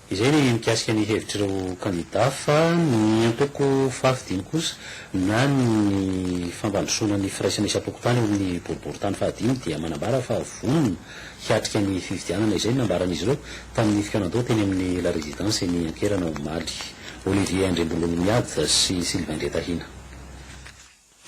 Izay ny mikasika ny hevitr'ireo kandida fa ny antoko fahafidiny kosa na ny fampandrosoana ny firaisana isam-pokontany ao amin'ny boriborintany fahadimy dia manambara fa vonona hiatrika ny fifidianana izay ny nambaran'izy ireo tamin'ny fikaonandoha teny amin'ny La Résidence eny Ankerana omaly. Olivier Andriambololimiady sy Sylvain Ndretahina.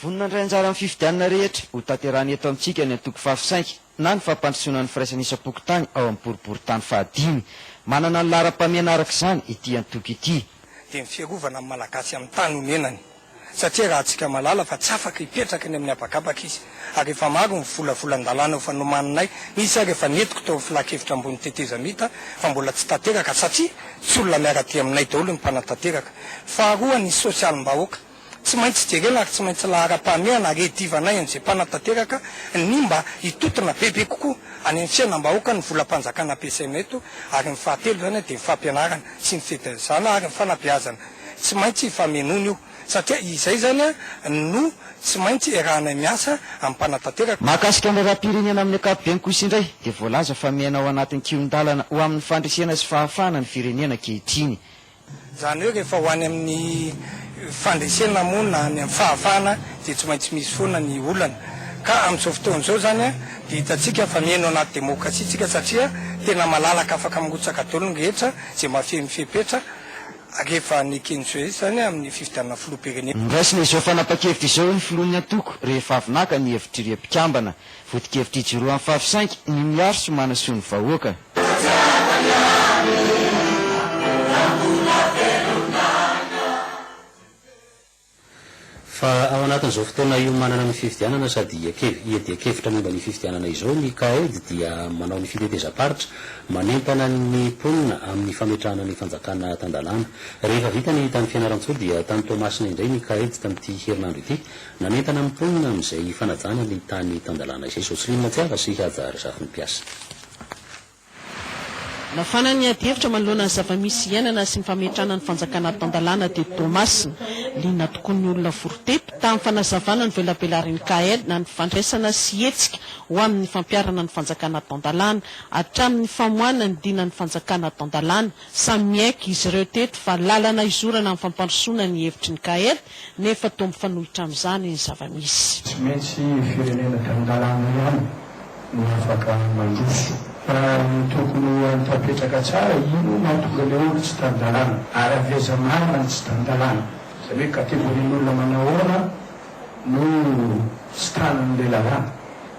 Vonona handray anjara amin'ny fifidianana rehetra hotanterahina eto amintsika ny antoko Fafy Sainky na ny fampandrosoana ny firaisana isam-pokontany ao amin'ny boriborintany fahadimy. Manana ny laharam-pahamehana araka izany ity antoko ity. dia ny fiarovana ny Malagasy amin'ny tany onenany satria raha antsika mahalala fa tsy afaka hipetraka eny amin'ny habakabaka izy ary efa maro ny volavolan-dalàna efa nomaninay nisy ary efa nentiko tao amin'ny filankevitra ambony tetezamita fa mbola tsy tanteraka satria tsy olona miara-dia aminay daholo ny mpanatanteraka. Faharoa ny sosialim-bahoaka. Tsy maintsy jerena ary tsy maintsy laharam-pahamehana redivanay an'izay mpanatanteraka ny mba hitontona bebe kokoa any amin'ny fiainam-bahoaka ny volam-panjakana ampiasaina eto ary ny fahatelo izany dia ny fampianarana sy ny fitaizana ary ny fanabeazana tsy maintsy hifamenoana io satria izay izany no tsy maintsy iarahanay miasa amin'ny mpanatanteraka. Mahakasika ny raharaham-pirenena amin'ny ankapobeny kosa indray dia voalaza fa miaina ao anatin'ny kihon-dalana ho amin'ny fandresena sy fahafahana ny firenena ankehitriny. Izany hoe rehefa ho any amin'ny fandresena moa na any amin'ny fahafahana dia tsy maintsy misy foana ny olana. Ka amin'izao fotoana izao izany dia hitantsika fa mihaino anaty demokrasia isika satria tena malalaka afaka mirotsaka daholo ny rehetra izay mahafeno fepetra rehefa nekeny soa izany amin'ny fifidianana filoham-pirenena. Noraisina izao fanapan-kevitra izao ny filohan'ny antoko rehefa avy naka ny hevitr'ireo mpikambana vodinkevitra ijoroan'ny fahafisainky ny miaro sy manasoa ny vahoaka. Fa ao anatin'izao fotoana iomanana ny fifidianana sady hiadian-kevitra momba ny fifidianana izao ny CAED dia manao ny fitetezam-paritra manentana ny mponina amin'ny fametrahana ny fanjakana tan-dalàna. Rehefa vita ny tany Fianarantsoa dia tany Toamasina indray ny CAED tamin'ity herinandro ity nanentana ny mponina amin'izay fanajana ny tany tan-dalàna izay. Jocelyne Tsiava sy Haja Razafinimpiasa. Nafana ny adihevitra manoloana ny zava-misy iainana sy ny fametrahana ny fanjakana tan-dalàna teto Toamasina. Liana tokoa ny olona vory teto, tamin'ny fanazavana ny velabelarin'ny CAEL na ny fandraisana sy hetsika ho amin'ny fampiharana ny fanjakana tan-dalàna, hatramin'ny famoahana ny dinan'ny fanjakana tan-dalàna. Samy miaiky izy ireo teto fa lalana hizorana amin'ny fampandrosoana ny hevitry ny CAEL nefa toa mifanohitra amin'izany ny zava-misy. Tsy maintsy firenena tany an-dalàna ihany no afaka mandroso. Fa ny tokony ho any tapetraka tsara, inona no mahatonga ilay olo tsy tan-dalàna? Ary avy aiza marina ny tsy tan-dalàna? Izany hoe kategorian'olona manahoana no tsy tanan'ilay lalàna?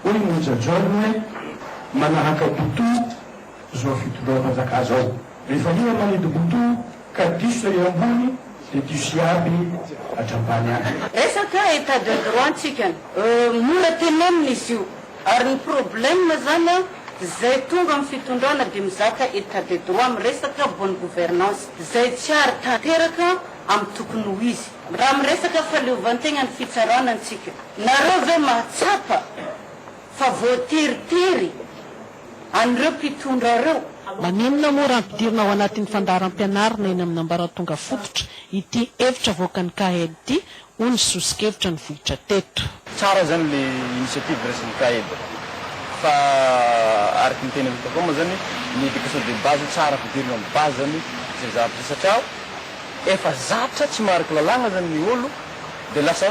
Hoy i Moja John hoe, Manahaka Butu izao fitondram-panjakà izao, rehefa iha manidy Butu, Ka diso ery ambony de diso iaby hatrambany any. Resaka etat de droit ntsika mora tenenina izy io ary ny problème zany an zay tonga amin'ny fitondrana de mizaka etat de droit miresaka bonne gouvernance zay tsy ary tanteraka amin'ny tokony ho izy raha miresaka fahaleovantegna ny fitsarana ntsika nareo ve mahatsapa fa voateritery an'ireo mpitondra ireo. Maninona moa raha ampidirina ao anatin'ny fandaharam-pianarana eny amin'ny ambaratonga fototra ity hevitra avoakan'ny CAED ity, hoy ny sosokevitra nivoitra teto. Tsara izany ilay initiative raisin'ny CAED fa araka ny teny avita koa moa izany ny éducation de base tsara ampidirina amin'ny base izany izay zavatra izay satria efa zatra tsy maharaka lalàna izany ny olo, Dia lasa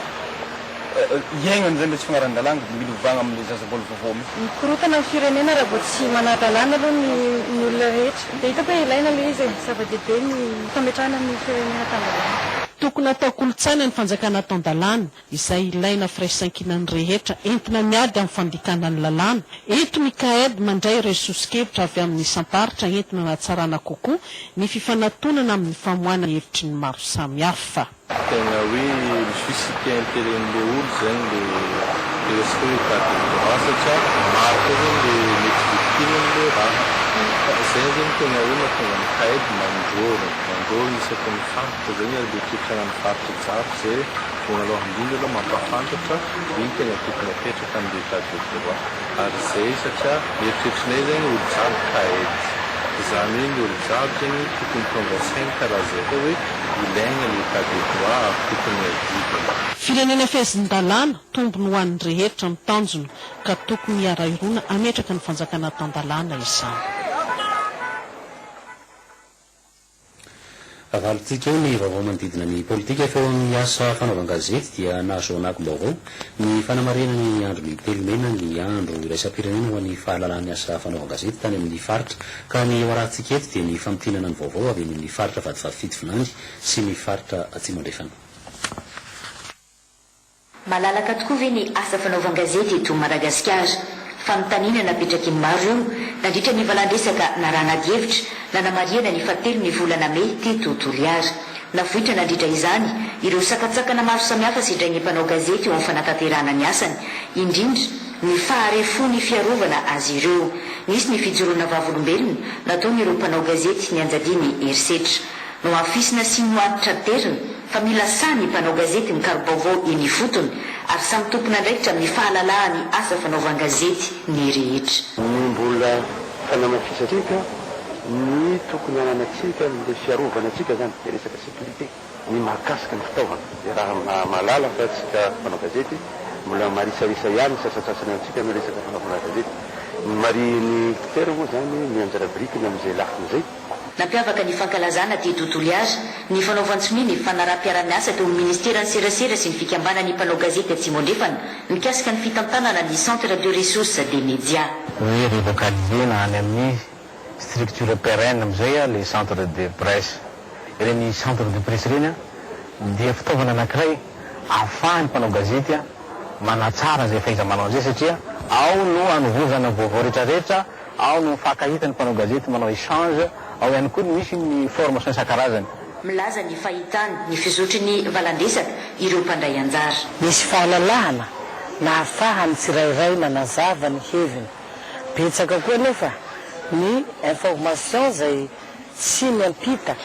iainany izay ilay tsy fagnaran-dalàna dia milovagna amin'ilay zaza mbola vaovao mi. Mikorontana ny firenena raha vao tsy manadalàna aloha ny ny olona rehetra. Dia hitako hoe ilaina ilay izy e. Zava-dehibe ny fametrahana ny firenena tan-dalàna. Tokony atao kolontsaina ny fanjakana tan-dalàna, izay ilaina firaisankinan'ny rehetra entina miady amin'ny fandikana ny lalàna. Eto ny CAED mandray ireo soso-kevitra avy amin'ny isam-paritra entina hanatsarana kokoa ny fifanatonana amin'ny famoahana hevitry ny maro samihafa. Tegna hoe misy site intérêt-ny le olo zegny le resiko hoe cas de droit satria maro koa zegny le mety victime-ny le raha fa zegny zegny tegna hoe mahatonga ny CAED mandrôra mandrôra isaky ny faritra zegny ary le toetragna ny faritra jiaby zay voalôhany indrindra alôha mampafantatra ino tegna tokony apetraka amle cas de droit. Ary izay satria eritreritrinay zany olo jiaby kaed. Izany hoe ny olo jiaby zany tokony tonga sainy ka raha zay koa hoe ilaigna l'état de droit ary tokony adidina. Firenena fehezin-dalàna, tombony ho an'ny rehetra ny tanjona ka tokony hiara-hirona hametraka ny fanjakana tan-dalàna izany. Avalintsika eo ny vaovao manodidina ny politika fa eo amin'ny asa fanaovan-gazety dia nahazoanako baovao ny fanamarinana ny andron'ny telo mena ny andro iraisam-pirenena ho an'ny fahalalahany asa fanaovan-gazety tany amin'ny faritra ka ny eo arahantsika eto dia ny famintinana ny vaovao avy eny amin'ny faritra Vatovavy Fito Vinany sy ny faritra Atsimo Andrefana. Malalaka tokoa ve ny asa fanaovan-gazety eto Madagasikara? Fanontaniana napetrak'i ny maro io nandritra ny valandresaka narahana adihevitra nanamarihana ny fahatelon'ny volana mey teto Toliara. Navoitra nandritra izany ireo sakantsakana maro samihafa sedrain'ny mpanao gazety eo amin'ny fanatanterahana ny asany, indrindra ny faharefon'ny fiarovana azy ireo. Nisy ny fijoroana vavolombelona nataon'ireo mpanao gazety nianjadian'ny herisetra. Nohafisina sy nohanitra aderiny fa mila sahy ny mpanao gazety mikaro-baovao eny ifotony ary samy tompon'andraikitra amin'ny fahalalahan'ny asa fanaovan-gazety ny rehetra. Ny mbola fanamafisantsika ny tokony hananantsika amin'ilay fiarovana antsika izany dia resaka sécurité, ny mahakasika ny fitaovana dia raha mahalala fa isika mpanao gazety mbola marisarisa ihany ny sasantsasany amintsika amin'ny resaka fanaovana gazety. Ny marihin'ny mpitera moa izany ny anjara birikiny amin'izay lafiny izay. Nampiavaka ny fankalazana Dia Do Toliara ny fanaovan-tsonia ny fanaraham-piarahamiasa teo amin'ny Ministeran'ny Serasera sy ny Fikambanan'ny Mpanao Gazety Atsimo Andrefana mikasika ny fitantanana ny Centre de Ressources des Médias. Ny relocaliser-na any amin'ny structure pérenne amin'izay ilay centre de presse. Ireny centre de presse ireny dia fitaovana anankiray ahafahan'ny mpanao gazety manatsara izay fahaiza-manao an'izay satria ao no anovozana ny vaovao rehetrarehetra, Ao no mifankahita ny mpanao gazety manao échange, ao ihany koa no misy ny formation isan-karazany. Milaza ny fahitany ny fizotry ny valandresaka ireo mpandray anjara. Nisy fahalalahana nahafahan'ny tsirairay nanazava ny heviny. Betsaka koa anefa ny informations izay tsy niampita,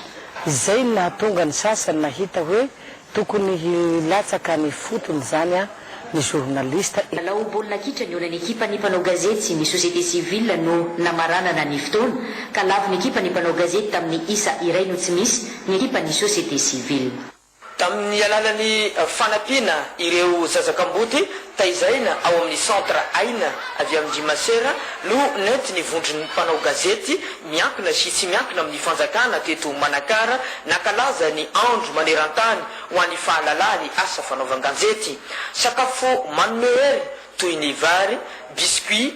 izay no nahatonga ny sasany nahita hoe Tokony hilatsaka any ifotony zany an ny journaliste. Lalao baolina kitra nihaonan'ny ekipan'ny mpanao gazety sy ny société civile no namaranana ny fotoana, ka lavon'ny ekipan'ny mpanao gazety tamin'ny isa iray no tsy misy ny ekipan'ny société civile. Tamin'ny alalan'ny fanampiana ireo zaza kamboty Taizaina ao amin'ny Centre Aina avy amin-dry Masera no nentin' ny vondron'ny mpanao gazety miankina sy tsy miankina amin'ny fanjakana teto Manakara nankalaza ny andro maneran-tany ho an'ny fahalalaha ny asa fanaovan-ganjety. Sakafo manome hery toy ny vary, biscuits,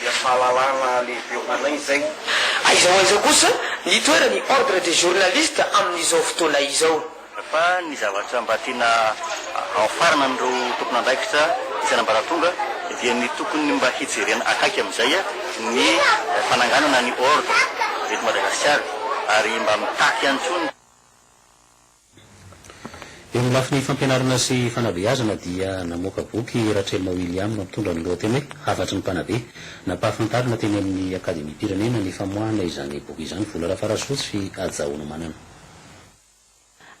dia fahalalana lehibe ho anay izay. Aiza ho aiza kosa ny toeran'ny Ordre des journalistes amin'izao fotoana izao? Fa ny zavatra mba tiana haofarana an'ireo tompon'andraikitra isan'ambaratonga dia ny tokony mba hijerena akaiky amin'izay ny fananganana ny Ordre eto Madagasikara ary mba mitaky ihany koa ny. Eo amin'ny lafiny fampianarana sy fanabeazana dia namoaka boky i Ratrelina William mitondra ny lohateny hoe Hafatry ny Mpanabe. Nampahafantarina teny amin'ny Akademiam-pirenena ny famoahana izany boky izany Vola Rafarasoa tsy hajahoana manana.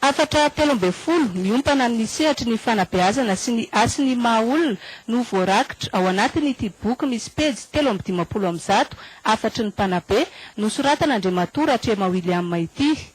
Hafatra telo ambin'ny folo miompana amin'ny sehatry ny fanabeazana sy ny hasin' ny maha olona no voarakitra ao anatin' ity boky misy pejy telo amby dimampolo amin'ny zato Hafatry ny Mpanabe nosoratan' Andriamatoa Ratrema William ity.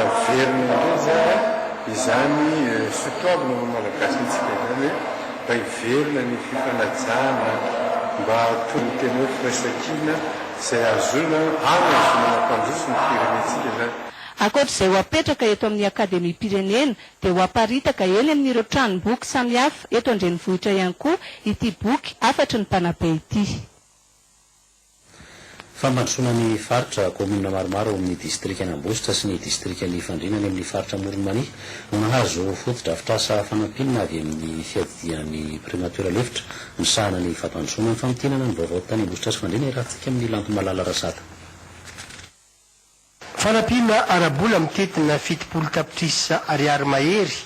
Averina indray izany izany soatoavina maha Malagasy antsika izany hoe mba hiverina ny fifanajana, mba tony tena hoe firaisan-kina izay ahazoana ary ahazoana mampandroso ny firenentsika izany. Ankoatra izay ho apetraka eto amin'ny Akademiam-pirenena dia ho aparitaka eny amin'ireo tranom-boky samihafa eto an-drenivohitra ihany koa ity boky hafatry ny mpanabe ity. Fampandrosoana ny faritra, Kaominina maromaro ao amin'ny distrikan'Ambositra sy ny distrikan'i Fandriana any amin'ny faritra Amoron'i Mania no nahazo fotodrafitrasa fanampinina avy amin'ny fiadidian'ny Primatiora lefitra misahana ny fampandrosoana ny famintinana ny vaovao tany Ambositra sy Fandriana i Ratsika amin'ny Lanto Malala Rasata. Fanampiana ara-bola mitentina fitopolo tapitrisa ariary mahery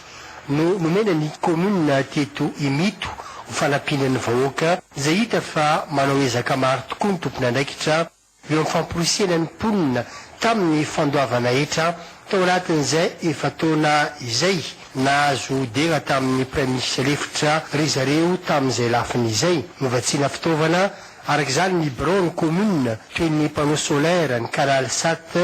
no nomena ny kaominina teto Imito ho fanampiana ny vahoaka izay hita fa manao ezaka maro tokoa ny tompon'andraikitra eo amin'ny famporisihana ny mponina tamin'ny fandoavana hetra tao anatin'izay efa-taona izay nahazo dera tamin'ny Praiminisitra lefitra ry zareo tamin'izay lafiny izay novatsiana fitaovana Araka izany, ny birao ny kaominina, toy ny panneau solaire, ny canal sat,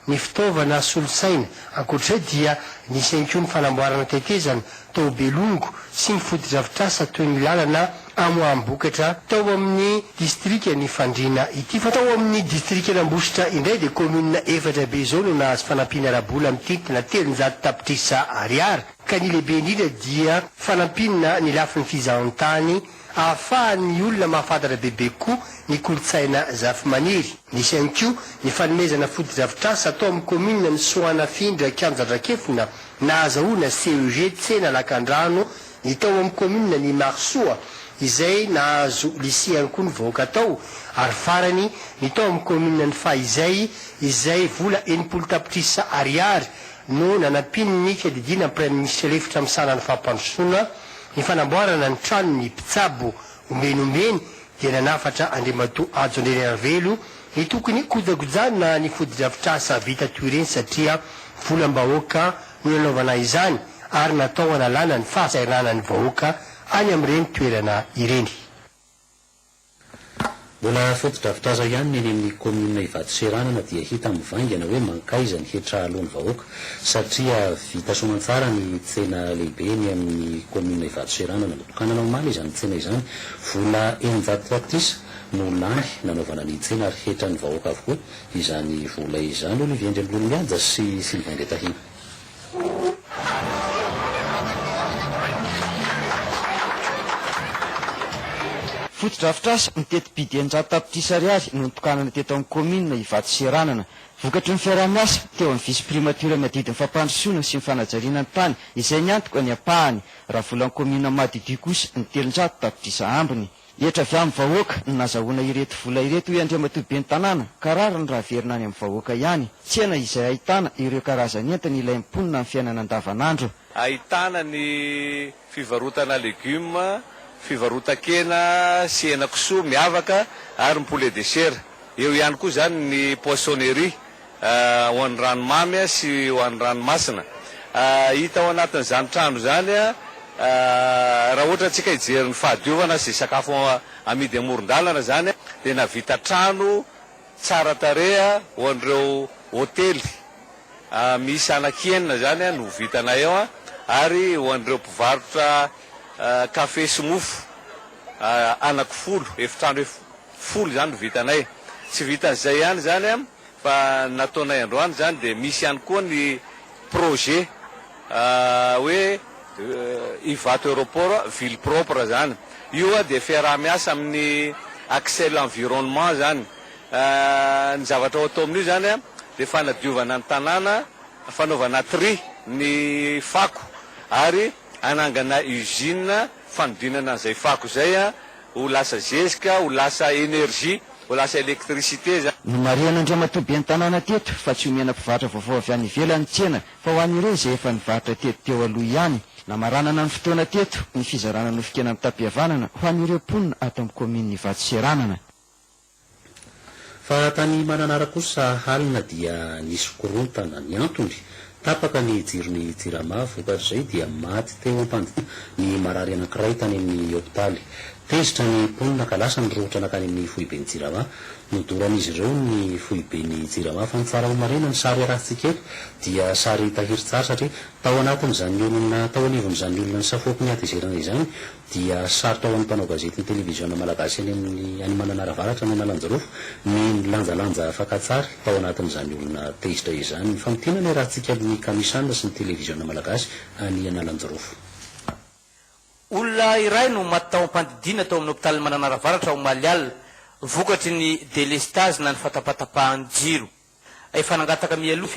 ny fitaovana solosaina. Ankoatr'izay dia nisy ihany koa ny fanamboarana tetezana tao Belongo sy ny fotodrafitrasa toy ny lalana amoaham-bokatra tao amin'ny distrikan'i Fandriana ity. Fa tao amin'ny distrikan'Ambositra indray dia kaominina efatra be izao no nahazo fanampiana ara-bola mitentina telonjato tapitrisa ariary, ka ny lehibe indrindra dia fanampiana ny lafiny fizahan-tany hahafahan'ny olona mahafantatra bebe kokoa ny kolontsaina zafimaniry. Nisy ihany koa ny fanomezana fotodrafitrasa atao amin'ny kaominina ny Soanafindra Kianja Andrakefona nahazahoana CEG Tsena Lakandrano, ny tao amin'ny kaominina ny Marosoa izay nahazo Lycée ihany koa ny vahoaka tao ary farany ny tao amin'ny kaominina ny Fahizay izay vola enimpolo tapitrisa ariary no nanampian'ny fiadidiana ny Praiminisitra lefitra misahana ny fampandrosoana Ny fanamboarana ny tranon' ny mpitsabo omeny omeny dia nanafatra Andriamatoa Hajo Andrianarivelo ny tokony hokojakojana ny fotodrafitrasa vita toy ireny satria volam-bahoaka no nanaovana izany ary natao hanalana ny fahasahiranan'ny vahoaka any amin'ireny toerana ireny. Mbola fotodrafitrasa ihany ny eny amin'ny kaominina Ivato Seranana dia hita mivaingana hoe mankaiza ny hetra aloa ny vahoaka satria vita soamantsara ny tsena lehibe eny amin'ny kaominina Ivato Seranana notokanana omaly izany tsena izany. Vola eninjato tapitrisa no lany nanaovana ny tsena ary hetran'ny vahoaka avokoa izany vola izany, hoy Olivier Ndrembololimihaja sy Sylvain Ndretahina. Fotodrafitrasa ny teti-bidy eninjato tapitrisa ariary no notokanana teto amin'ny kaominina Ivato sy Ranana. Vokatry ny fiaraha-miasa teo amin'ny Vice Primature-ny adidy ny fampandrosoana sy ny fanajariana ny tany izay ny antoka ny ampahany. Raha volan'ny kaominina madiodio kosa ny telonjato tapitrisa ambiny. Hetra avy amin'ny vahoaka no nazahoana ireto vola ireto hoy Andriamatoa Ben'ny tanàna ka rariny raha averina any amin'ny vahoaka ihany. Tsena izay ahitana ireo karazan'entana ilain'ny mponina amin'ny fiainana andavanandro. Ahitana ny fivarotana legioma, fivarotan-kena sy henakisoa miavaka ary ny poulet de chair. Eo ihany koa izany ny poissonnerie ho an'ny ranomamy sy ho an'ny ranomasina hita ao anatin'izany trano izany raha ohatra antsika hijery ny fahadiovana sy sakafo amidy amoron-dalana izany dia navita trano tsara tarehy ho an'ireo hotely miisa anaky enina izany no vitanay ao ary ho an'ireo mpivarotra kafe sy mofo anaky folo efitrano folo izany no vitanay tsy vitan'izay ihany izany Fa ny nataonay androany izany dia misy ihany koa ny projet hoe Ivato Aeroport ville propre izany. Io dia fiaraha-miasa amin'ny Axel Environnement izany. Ny zavatra atao amin'io izany dia fanadiovana ny tanàna, fanaovana tri ny fako ary hanangana usine fanodinana an'izay fako izay. Ho lasa zezika, ho lasa énergie, ho lasa électricité zany. Nomarihan'Andriamatoa Ben'ny tanàna teto fa tsy omena mpivarotra vaovao avy any ivelany ny tsena fa ho an'ireo izay efa nivarotra teto teo aloha ihany. Namaranana ny fotoana teto ny fizarana nofon-kena notam-pihavanana ho an'ireo mponina ato amin'ny kaominin'Ivato Seranana. Fa tany Mananara kosa halina dia nisy korontana. Ny antony, tapaka ny jiron'ny Jirama, vokatr'izay dia maty teo am-pandita ny marary anankiray tany amin'ny hopitaly. Tezitra ny mponina ka lasa ny rohotra nankany amin'ny foiben'ny Jirama. Nodoran'izy ireo ny foiben'ny Jirama fa ny tsara ho marihina ny sary arahintsika eto dia sary tahirin-tsary satria tao anatin'izany olona tao anivon'izany olona nisafoako ny hatezerana izany dia sarotra ho an'ny mpanao gazetin'ny televiziona malagasy any amin'ny any Mananara Avaratra ny Analanjirofo ny nilanjalanja fakantsary tao anatin'izany olona tezitra izany. Mifamintina ny iarahantsika amin'ny Kamisan sy ny televiziona malagasy any Analanjirofo. Olona iray no maty tao am-pandidiana tao amin'ny hopitalin'i Mananara Avaratra omaly alina, vokatry ny delestazy na ny fatapatapahan-jiro. Efa nangataka mialoha